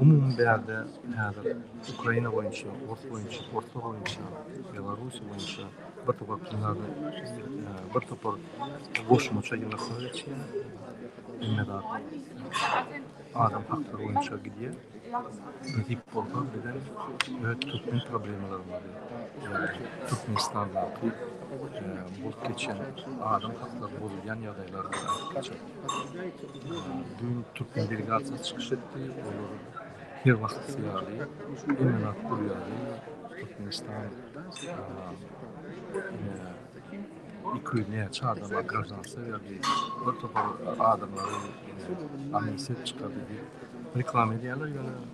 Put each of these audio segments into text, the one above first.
Umuman bärde häzir Ukraina boýunça, ors boýunça, orslar boýunça, Belarusýa boýunça bir topar plyumada, bir topar goşmaça ýygnaklary geçýär. Hemme zat adam haklary boýunça gidýär. Nesip bolsa bizem öz türkmen problemalarymyzy, Türkmenistandaky bolup geçen adam haklary bozulýan ýagdaýlary Dün Türkmen delegasiýasy çykyş etdi. Olar her wagtky ýaly, hemen atdyr ýaly Türkmenistan iki ýüz näçe adama graždanstwo berdi. Bir topar adamlary amnistiýa çykardy diýip reklama edýärler ýöne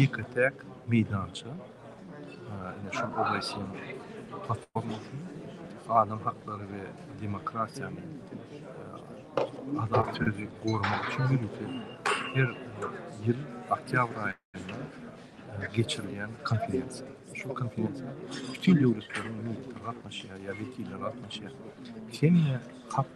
Ýeke-täk meýdança, ine şol OBSE-iň platformasy adam haklary we demokratiýany, azat sözi goramak üçin her ýyl, her ýyl oktýabr aýynda geçirilýän konferensiýa. Şu konferensiýa bütin döwletleriň gatnaşýar ýa wekilleri gatnaşýar. Hemme hak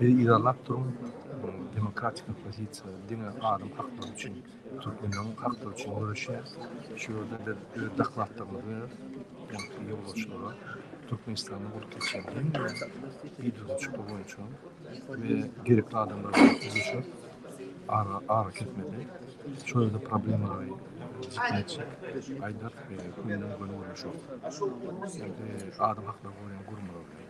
Biri yzarlap durun demokratik opozisiýa diňe adam haklary üçin türkmenleň haklary üçin göreşýär. Şu ýerde biz öz daklatlarymyzy ýaňky ýolbaşçylara Türkmenistanda bolup geçýän hemme iduzuşyklar boýunça we gerekli adamlar bilen duşup ara ara kesmedi. Şu ýerde problemalary aýdyp köýnüň göni görnüşi. Adam haklary goraýan gurumlar bilen.